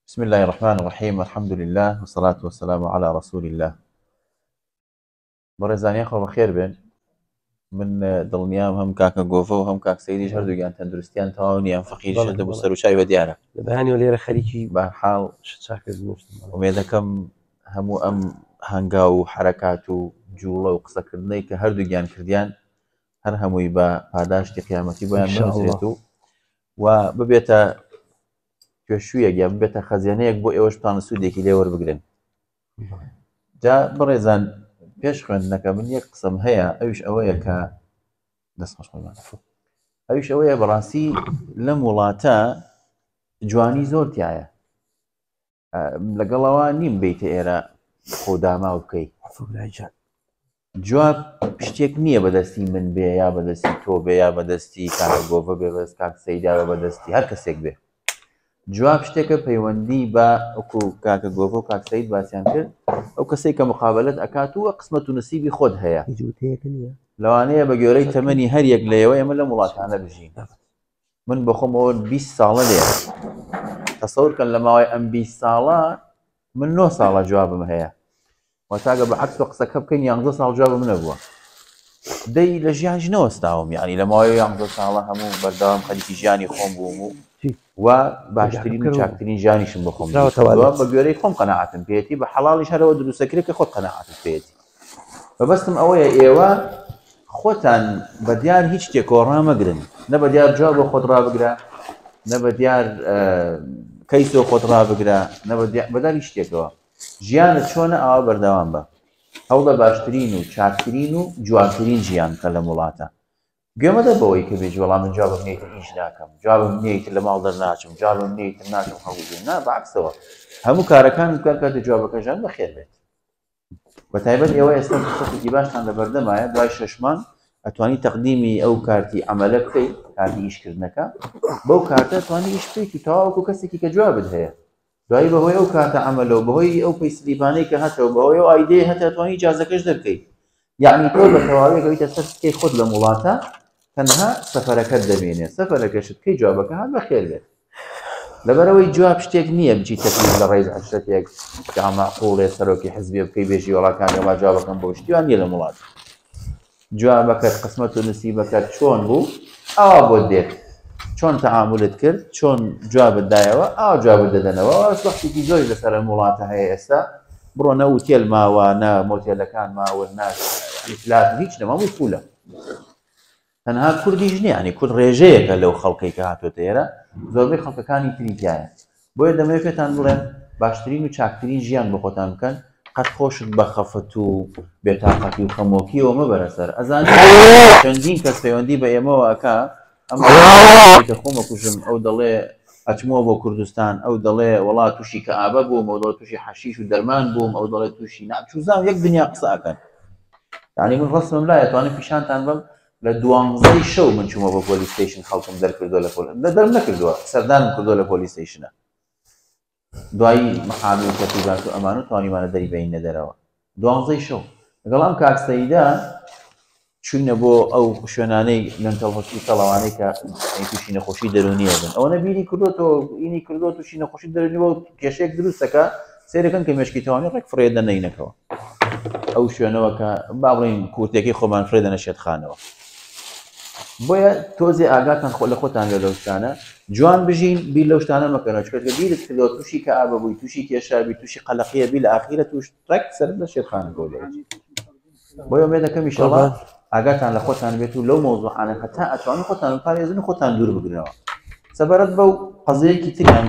بسم اللە الرحمن الرحیم الحمد للە والصلاة والسلام علی رسول اللە بەڕێزان یاخوا بەخێر بێن من دڵنیام هەم کاکە گۆڤە و هەم کاک سەیریش هەردووگیان تەندروستیان تەواو نییان فەقیر بەڵێ، شەدە بۆ بەڵێ. سەر و چای بە دیارە لە بەیانیەوە لێرە خەریکی بە حاڵ شچاکەس نوشتم ئومێدەکەم هەموو ئەم هەنگا و حرەکات و جوڵە و قسەکردنەی کە هەردووگیان کردیان هەر هەمووی بە پاداشتی قیامەتی بۆیان إن شاء الله. بنووسێت و و ببێتە پێشوویەک یا ببێتە خەزیێنەیەک بۆ ئێوەش پان سوودێکی لێ وەربگرن جا بڕێزان پێش خوێندنەکە من یەک قسم هەیە ئەوش ئەوەیە کە دەست خۆشمان ئەوش ئەوەیە بەڕاستی لەم وڵاتە جوانی زۆر تایە لەگەڵەوە نیم بیتە ئێرە خۆ داماو بکەیت جواب شتێک نییە بەدەستی من بێ یا بەدەستی تۆ بێ یا بەدەستی کاگۆڤە بێ بەس کاک سەیداوە بەدەستی هەر کەسێک بێ جواب شتێکە پەیوەندی بە ئەوکو کاکە گۆڤۆ کاک سەید باسییان کرد ئەو کەسێک کە مقابلت ئەکات و قسمەت و نسیبی خۆت هەیە لەوانەیە بە گوێرەی تەمەنی هەر یەک لەیەوە ئێمە لە وڵاتانە بژین من بخۆم ئەوە بیست ساڵە لێ تەسەورکەن لە ماوەی ئەم بیست ساڵە من نۆ ساڵە جوابم هەیە وەتاگە بە عکس و قسەکە بکەین یانزە ساڵ جواب منە بووە دەی لە ژیان ژنەوەستاوم یعنی لە ماوەی یانزە ساڵە هەموو بەردەوام خەریکی ژیانی خۆم بووم و و باشترین و چاکترین ژیانیشم بخۆم بە گوێرەی خۆم قەنەعاتم پێێتی بە حەڵیش هەرەوە دروستەکرێت کە خۆت قەنەعاتت پێێتی مەبەستم ئەوەیە ئێوە خۆتان بە دیار هیچ شتێکەوە ڕامەگرن نە بە دیار جواب بۆ خۆت ڕابگرە نە بە دیار کەیسەوە خۆت ڕابگرە نە بەداری شتێکەوە ژیانت چۆنە ئاوا بەردەوام بە هەوڵە باشترین و چاکترین و جوانترین ژیان کە لەم وڵاتە گوێمەدە بەوەی کە بێژ وەڵام من جوابم نیت ئیش ناکەم جوابم نیت لە ماڵ دەرناچم جوابم نیت ناچم خەڵکی نا بەعکسەوە هەموو کارەکان بکە کە جوابەکەژان بەخێر بێت بە تایبەت ئێوە ئێستا فرسەتێکی باشتان لە بەردەمایە دوای شەشمان ئەتوانی تەقدیمی ئەو کارتی ئەمەلە بکەی کارتی ئیشکردنەکە بەو کارتە توانی ئیش بکەیت و تەواوکو کەسێکی کە جوابت هەیە دوایی بەهۆی ئەو کاتە ئەمەلەوە بەهۆی ئەو پەیسلیبانەی کە هەتەوە بەهۆی ئەو ئایدەیە هەتاتوانی جازەکەش دەرکەیت یەعنی تۆ بە تەواوی ئەگەویتە سەر سکەی خۆت لەم وڵاتە تەنها سەفەرەکەت دەمێنێ سەفەرەکەشت بکەی جوابەکە هات بەخێر بێت لەبەرەوەی جواب شتێک نییە بچی تەکلیف لە ڕێز عەشرەتێک کە مەعقوڵێ سەرۆکی حزبێ بکەی بێژی وەڵاکان وەڵا جوابەکەم بۆ شتیوان نییە لەم وڵات جوابەکەت قسمەت و نسیبەکەت چۆن بوو ئاوا بۆت دێت چۆن تەعاملت کرد چۆن جوابت دایەوە ئاوا جوابت دەدەنەوە ئەوە وەختێکی زۆری لەسەر ئەم وڵاتە هەیە ئێستا بڕۆ نە ئوتێل ماوە نە مۆتێلەکان ماون نە یعنی پلات و هیچ نەما هەمووی فولە تەنها کوردیش نییە ینی کورد ڕێژەیەکە لەو خەڵکەی کە هاتوۆتە ئێرە زۆربەی خەڵکەکانی تری تایە بۆیە دەمەوێت پێتان بڵێن باشترین و چاکترین ژیان بە خۆتان بکەن قەت خۆشت بە خەفەت و بێتاقەتی و خەمۆکیەوە مەبەرە سەر ئەزانانی چەندین کەس پەیوەندی بە ئێمەوە ئەکا ئەمە ئەوەی کە خۆم ئەکوژم ئەو دەڵێ ئەچمەوە بۆ کوردستان ئەو دەڵێ وەڵا تووشی کەئابە بووم ئەو دەڵێ تووشی حەشیش و دەرمان بووم ئەو دەڵێ تووشی ناچوزان یەک دنیا قسە ئەکەن یعنی من ڕسمم لا ئەتوانم پیشانتان بم لە دوانزەی شەو من چوومە بۆ پۆلیس ستەیشن خەڵکم دەرکردووە لە پۆل لە دەرم نەکردووە سەردانم کردووە لە پۆلیس ستەیشنە دوای محامی و تەرتیبات و ئەمانە توانیمانە دەری بەینە دەرەوە دوانزەی شەو لەگەڵ ئەم کاک سەیدا چوینە بۆ ئەو شوێنانەی لەنتەڵ هۆسپیتەڵەوانەی کە تووشی نەخۆشی دەرونیە بن ئەوە نەبیری کردوەوە ئینی کردو تووشی نەخۆشی دەرنی بۆ کێشێک دروستەکە سێرەکەن کە مشکی توانانی ڕێک فرێ دەنەینەکەەوە ئەو شوێنەوە کە با بڵین کورتێکی خۆمان فرێ دەنە شێتخانەوە بۆیە تۆزێ ئاگاتان خۆ لە خۆتان لە لەوشتانە جوان بژین بیر لەو شتانە مەکەنەوە چکە بیرت کردەوە تووشی کە ئابە بووی تووشی کێشابی تووشی قەلەقیە بی لە ئاخیرە توش ڕێک سەر لە شێرخان گۆ بۆیە مێ دەکەم میشەڵە ئاگاتان لە خۆتان بێت و لەو مۆزوعانە هەتا ئەتوان خۆتان پارێزن خۆتان دوور بگرنەوە سەبارەت بەو قەزەیەکی تریان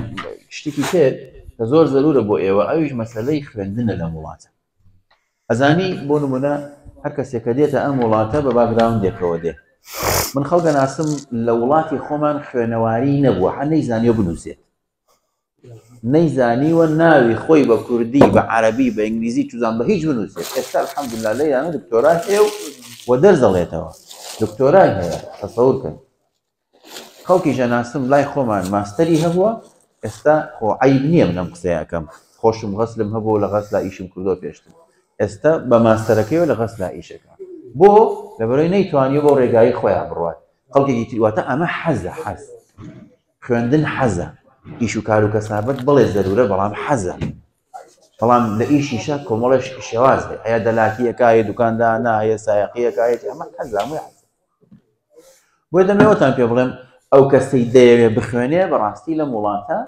شتێکی تر کە زۆر زەرورە بۆ ئێوە ئەویش مەسلەی خوێندنە لە وڵاتە ئەزانی بۆ نمونە هەر کەسێک کە دێتە ئەم وڵاتە بە باکگراوندێکەوە دێت من خەڵکە ناسم لە وڵاتی خۆمان خوێنەواری نەبووە هە نەیزانانی بنووسێت نەیزانیوە ناوی خۆی بە کوردی بە عربی بە ئینگلیزی چزان بە هیچ بنووسێت ئێستا الحمدلله لە یانە دکتۆرای هەیە و وە دەرزەڵێتەوە دکتۆرای هەیە تەسەور کرد خەڵکی ژەناستم لای خۆمان ماستەری هەبووە ئێستا خۆ عەیب نییە من ئەم قسەیە ئەکەم خۆشم غەسلم هەبوو لە غەسلا ئیشم کردووە پێشتر ئێستا بە ماستەرەکەیەوە لە غەسلا ئیشەکە بۆ لەبەرەوەی نەیتوانیە بۆ ڕێگایی خۆیان بڕوات خەڵکێکی تریواتە ئەمە حەزە حەز خوێندن حەزە ئیش و کار و کەسابەت بڵێ زەرورە بەڵام حەزە بەڵام لە ئیشیشە کۆمەڵێش شێواز بێ ئەیە دەلاکیەکە یە دوکاندانە یە سایقیەکە یەتی ئەمە حەزە هەمووی حەزە بۆی دەمەوەتان پێ بڵێم ئەو کەسەی دەیەوێ بخوێنێ بەڕاستی لەم وڵاتە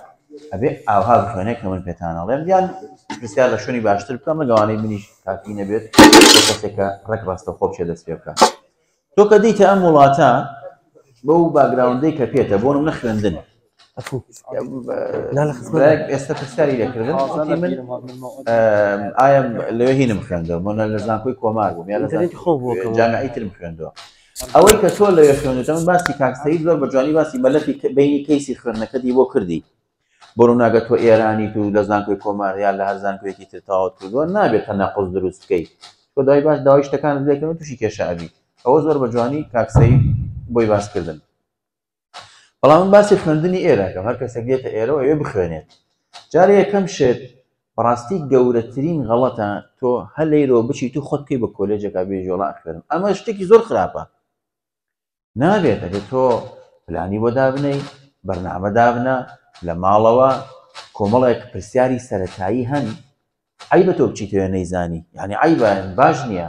ئەبێ ئاها بخوێنێ کە من پێتانەڵێم یان پرسیار لە شوێنی باشتر بکەم لەگەوانەی منیش کاکی نەبێت کەسێکە ڕێک ڕاستە خۆ بچێ دەست پێ بکات تۆ کە دیتە ئەم وڵاتە بەو باگراوندەی کە پێێتە بۆ نە خوێندن ئێستا پرسیاری لەکردن ئایا لەوێ هینم خوێندەوە منە لە زانکۆی کۆمار بووم یان جامعی ترم خوێندەوە ئەوەی کە تۆ لەوێ خوێندەوە من باسی کاکسەی زۆر بە جوانی باسی مەلەفی بینی کەیسی خوێندنەکەتی بۆ کردی بۆ ڕووناگە تۆ ئێرانی تو لە زانکۆی کۆمار یا لە هەر زانکۆیەکی تر تاوت کردووە نابێت تە نەقز دروست بکەیت تۆ دای باش داوای شتەکان لێکەوە تووشی کێشە ئەبی ئەوە زۆر بە جوانی کاکسەی بۆی باس کردن بەڵام من باسی خوێندنی ئێرە ئەکەم هەر کەسێک دێتە ئێرە و ئەوێ بخوێنێت جارێ یەکەم شێت بەڕاستی گەورەترین غەڵەتە تۆ هەر لەیرەوە بچی تو خۆت بکەی بە کۆلێجەکە بێژۆڵا خوێنم ئەمە شتێکی زۆر خراپە نابێت ئەگەر تۆ پلانی بۆ دابنەی بەرنامە دابنە لە ماڵەوە کۆمەڵێک پرسیاری سەتایی هەن عیبە تۆ بچیتەوە نەیزانی یعنی عیبە باش نییە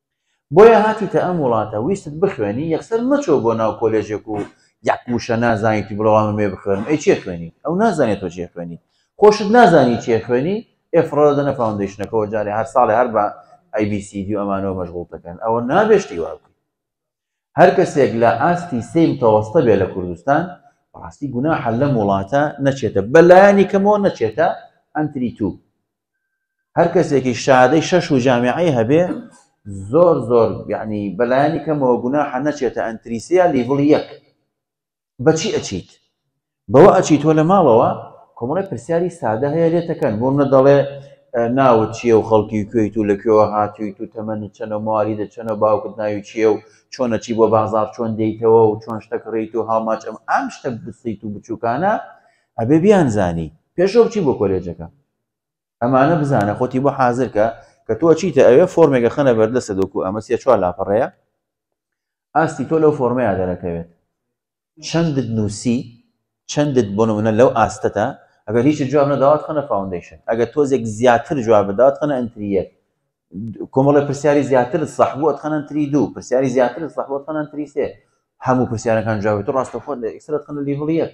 بۆیە هاتیتە ئەم وڵاتە ویستت بخوێنی یەکسەر مەچۆ بۆ ناو کۆلێژێک و یەک وشە نازانیتی بڵێ وەڵا من مێ بخوێنم ئەی چێ خوێنی ئەو نازانێت تۆ چێ خوێنی خۆشت نازانی چێ خوێنی ئێ فڕۆ دەنە فاوندەیشنەکەەوە جارێ هەر ساڵێ هەر بە ئەی بی سی دی و ئەمانەوە مەشغوڵ دەکەن ئەوە نابێشتی وا بکەی هەر کەسێک لە ئاستی سێ متەوەستە بێ لە کوردستان ڕاستی گوناحە لەم وڵاتە نەچێتە بەلایانی کەمەوە نەچێتە ئەنتری تو هەر کەسێکی شادەی شەش و جامیعی هەبێ زۆر زۆر یعنی بەلایانی کەمەوە گوناحە نەچێتە ئەنتریسیا لیڤڵ یەک بەچی ئەچیت بەوە ئەچی تۆ لە ماڵەوە کۆمەڵی پرسیاری سادە هەیە لێتەکەن بۆ منە دەڵێ ناوت چییە و خەڵکی کوێیت و لە کوێوە هاتوویت و تەمەنی چەنە مواری دە چەنە باوکت ناوی چییە و چۆنە چی بۆ بازار چۆن دەیتەوە و چۆن شتە کڕیت و هاوماچ ئەم ئەم شتە بسیت و بچووکانە ئەبێ بیانزانی پێشەو چی بۆ کۆلێجەکە ئەمانە بزانە خۆتی بۆ حازرکە کە تۆ چیتە ئەوێ فۆرمێکە خەنە بەردەسە دۆکو ئەمە سێ چوار لاپەڕەیە ئاستی تۆ لەو فۆرمەیە دەرەکەوێت چەندت نووسی چەندت بۆ نمونە لەو ئاستەتە ئەگەر هیچ جواب نەداوات خەنە فاوندیشن ئەگەر تۆزێک زیاتر جواب بدات خەنە ئەتریەک کۆمەڵی پرسیاری زیاتر سەحبووت خەنەن تری دوو پرسیاری زیاتر سەحبوت خەنەن تریسێ هەموو پرسیارەکان جوابێت و ڕاستەخۆ لە ئیسرەت خەنە لیڤڵ یەک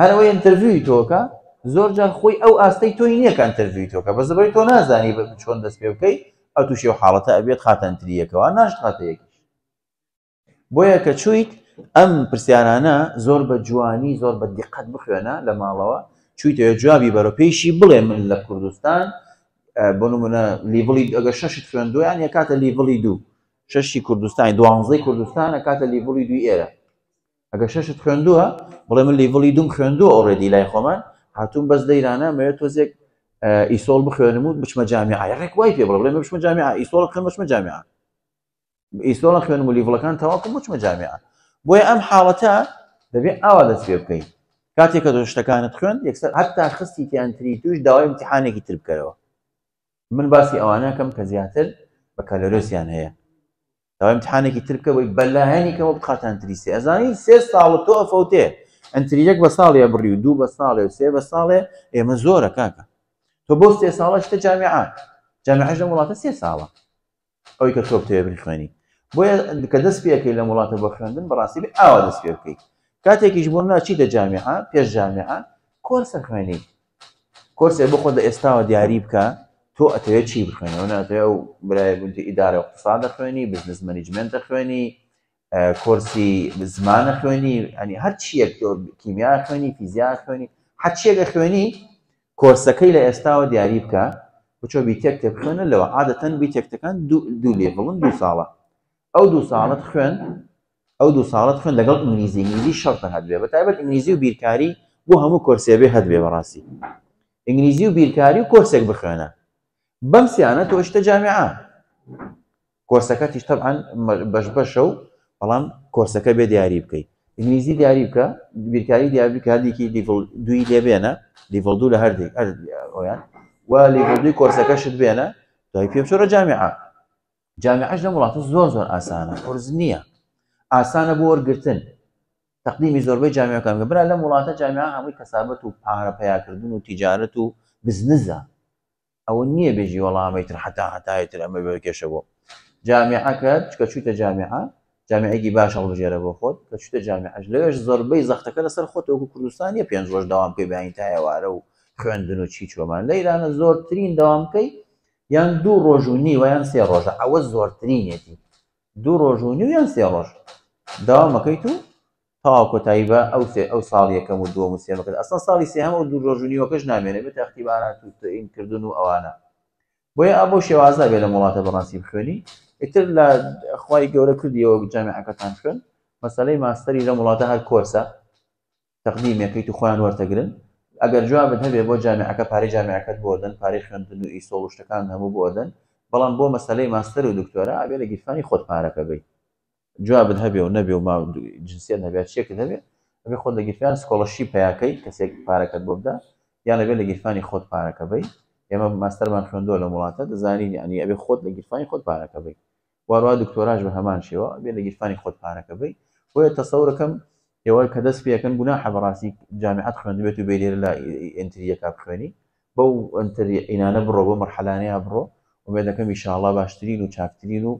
هەر ئەوەی ئەنتەرڤیوی تۆکە زۆر جار خۆی ئەو ئاستەی تۆی نییە کە ئەنتەرڤیوی تۆکە بە زبری تۆ نازانی چۆن دەست پێ بکەی ئەو تووشی و حاڵەتە ئەبێت خاتەنتریەکەوە ناشت خاتەیەکی بۆیە کە چویت ئەم پرسیارانە زۆر بە جوانی زۆر بە دیقەت بخوێنە لە ماڵەوە چویتەوە جوابی بەرە پێیشی بڵێ من لە کوردستان بۆ نمونە لیڤڵی ئەگە شەشت خوێندویان یە کاتە لیڤڵی دوو شەشی کوردستانی دوانزەی کوردستانە کاتە لیڤڵی دوی ئێرە ئەگە شەشت خوێندووە بڵێ من لیڤڵی دوم خوێندووە ئۆڕێدی لای خۆمان هاتوون بەس لەیرانە مەوێت تۆزێک ئیسۆڵ بخوێنم و بچمە جامی ئایا ڕێک وای پێ بڵێ بچمە جامی ئیسۆڵ خوێن بچمە جامی ئیسۆڵە خوێنم و لیڤڵەکان تەواکم بچمە جامی بۆیە ئەم حاڵەتە دەبێت ئاوا دەست پێ بکەیت کاتێکە دۆ شتەکانت خوێن یەکسەر هەتا خستی تیانتری توش داوای امتحانێکی تر بکەرەوە من باسی ئەوانەکەم کە زیاتر بە کەلەرۆسیان هەیە داوای امتحانێکی تر بکە بۆی بەلایەنی کەەوە بخاتان تریسێ ئەزانین سێ ساڵ تۆ ئەفەوتێ ئەتریەک بە ساڵێ بڕی و دوو بە ساڵێ و سێ بە ساڵێ ئێمە زۆرە کاکە تۆ بۆ سێ ساڵە شتە جامیعات جامیعش لە وڵاتە سێ ساڵە ئەوی کە تۆپ تێبری خوێنی بۆیە کە دەست پێەکەی لە وڵاتە بۆ خوێندن بەڕاستی ئاوا دەست پێ بکەیت کاتێکیش بۆ ناچیتە جامیعە پێش جامیعە کۆرسە خوێنی کۆرسێ بۆ خۆت لە ئێستاوە دیاری بکە تۆ ئەتەوێت چی بخوێنی ئەو ناتەوێت ئەو برای بنتی ئیدارە اقتصاد دەخوێنی بزنس مەنیجمنت دەخوێنی کۆرسی زمانە خوێنی ئەنی هەر چیەک تۆ کیمیا خوێنی فیزیا خوێنی حەچیە لە خوێنی کۆرسەکەی لە ئێستاوە دیاری بکە بچۆ بیتێک تێبخوێنە لەوە عادەتەن بیتێکتەکان دوو لێڤڵن دوو ساڵە ئەو دوو ساڵت خوێن ئەو دوو ساڵت خوێن لەگەڵ ئینگلیزی ئینگلیزی شەرتە هەبێ بە تایبەت ئینگلیزی و بیرکاری بۆ هەموو کۆرسێ بێ هەبێ بەڕاستی ئینگلیزی و بیرکاری و کۆرسێک بخوێنە بەم سیانە تۆشتە جامعە کۆرسەکە تیش تەبان بەش بەشە و بەڵام کۆرسەکە بێ دیاری بکەیت ئینگلیزی دیاری بکە بیرکاری دیاری کاردێکی لیڤل دوی لێ بێنە لیڤل دوو لە هەردێک ئەویان و لیڤل دوی کۆرسەکەشت بێنە دوای پێ بچۆرە جامعە جامعەش لەم وڵاتە زۆر زۆر ئاسانە قرس نییە ئاسانە بۆ وەرگتن تقدیمی زۆربەی جامعەکان گە برا لەم وڵاتە جامعە هەمووی کەسابەت و پارە پیاکردن و تیجارەت و بزنزە ئەوە نییە بێژی وەڵامی تر حتا هەتایتر ئەمە بە کێشە بۆ جامعەکە چکە چوتە جامعە جامعێکی باش هەڵبژێرە بۆ خۆت کە چتە جامعەش لەوێش زۆربەی زەختەکە لەسەر خۆتەوەکو کوردستانیە پێنج ڕۆژ داوام پێ بیانی تایەوارە و خوێندن و چی چۆمان لە ایرانە زۆرترین داوامکەی یان دوو ڕۆژ و نیوە یان سێ ڕۆژە ئەوە زۆرترینێتی دوو ڕۆژ و نیو یان سێ ڕۆژ داوامەکەیت و تاوا کۆتایی بە ئەو سێ ئەو ساڵ یەکەم و دووەم و سێمەکەت ئەسڵ ساڵی سێهەم و دوو ڕۆژ و نیوەکەش نامێنێ بێت ئەختیبارات و تەین کردن و ئەوانە بۆیە ئابۆ شێوازە بێ لە وڵاتە بەڕاستی بخوێنی ئیتر لە خی گەورە کردیەوە جامعەکەتان خوێن مەسلەی ماستەری لە وڵاتە هەر کۆرسە تەقدیمەکەیت و خۆیان وەرتەگرن ئەگەر جوابت هەبێ بۆ جامعەکە پارەی جامعەکەت بۆ دەن پارەی خوێندن و ئیسۆڵ و شتەکان هەموو بۆ دەن بەڵام بۆ مەسەلەی ماستەر و دکتۆرا ئەبێ لە گیرفانی خۆت پارەکە بی جوابت هەبێ و نەبێ و ما جنسیت هەبێت چێکت هەبێ ئەبێ خۆت لە گیرفان سکۆڵەشی پیاکەی کەسێک پارەکەت بۆ بدا یان لەبێ لە گیرفانی خۆت پارەکە بی ئێمە ماستەرمان خوێندووە لە وڵاتە دەزانین یعنی ئەبێ خۆت لە گیرفانی خۆت پارەکە بی واروا دکتۆراش بە هەمان شێوە ئەبێ لە گیرفانی خۆت پارەکە بەی بۆیە تەسەورەکەم ئێوە کە دەست پێەکەن گوناحە بەڕاستی جامیعەت خوێندبێت و بێلێر لە ئەنتریەکە بخوێنی بەو ئەنتری عینانە بڕۆ بۆ مەرحەلانەیە بڕۆ ومێدەکەم ئیشاڵا باشترین و چاکترین و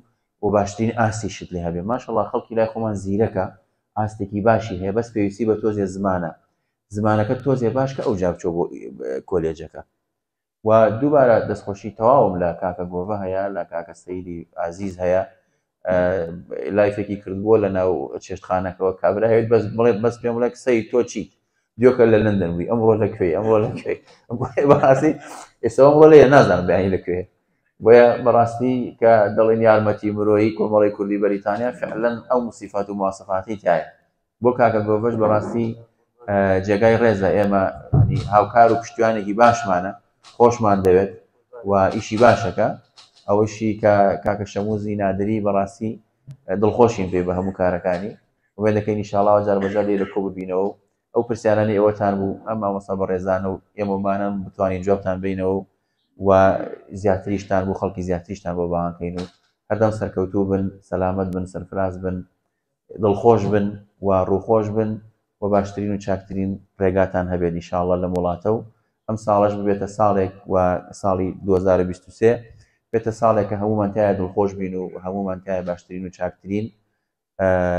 و باشترین ئاستی شت لێ هەبێ ماشەڵا خەڵکی لای خۆمان زیرەکە ئاستێکی باشی هەیە بەس پێویستی بە تۆزێ زمانە زمانەکە تۆزێ باش کە ئەو جابچۆ بۆ کۆلێجەکە وە دووبارە دەستخۆشی تەواوم لە کاکە گۆڤە هەیە لە کاکە سەیری ئازیز هەیە لایفێکی کردبووە لە ناو چێشتخانەکەەوە کابراوێت بەس بڵێت بەس پێم بڵێک سەی تۆ چیت دیۆکە لە لندن بووی ئەمڕۆ لە کوێی ئەمڕۆ لە کوێی باسی ئێستا ئەمڕۆ لە نازان بیانی لە کوێ بۆیە بەڕاستی کە دەڵێن یارمەتی مرۆیی کۆمەڵی کوردی بەریتانیا فعلەن ئەو مسیفات و مواسفاتی تایە بۆ کاکە گۆڤەش بەڕاستی جێگای ڕێزە ئێمە هاوکار و پشتیوانێکی باشمانە خۆشمان دەوێت و ئیشی باشەکە ئەوەشی کە کاکە شەموزی نادری بەڕاستی دڵخۆشین پێ بە هەموو کارەکانی وێ دەکەین نیشاڵاوە جار بەجار لێ لە کۆ ببینەوە و ئەو پرسیارانی ئێوەتان بوو ئەم مامۆستا بە ڕێزانە و ئێمەمانم بتوانین جوابتان بینەوە و و زیاتریشتان بۆ خەڵکی زیاتریشتان بۆ باوانکەین و هەردەم سەرکەوتوو بن سەلامت بن سەرفراز بن دڵخۆش بن و ڕووخۆش بن و باشترین و چاکترین ڕێگاتان هەبێت ان شاءاللە لەم وڵاتە و ئەم ساڵەش ببێتە ساڵێک و ساڵی دوو هەزار و بیست و سێ بێتە ساڵێک کە هەموومان تایە دڵخۆش بین و هەموومان تایە باشترین و چاکترین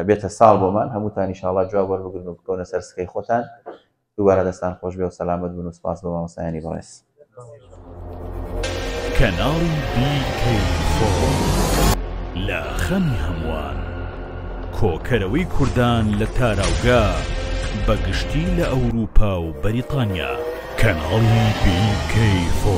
بێتە ساڵ بۆمان هەمووتان ان شاءاللە جواب وەربگرن و بکەونە سەر سکەی خۆتان دووبارە دەستان خۆش بێ و سەلامەت بن و سپاس بۆ مامۆستایانی بەڕێز. کەناڵی لە خەمی هەمووان کۆکەرەوەی کوردان لە تاراوگە بەگشتی لە ئەوروپا و بەریتانیا کەناڵی بیکەی فۆ.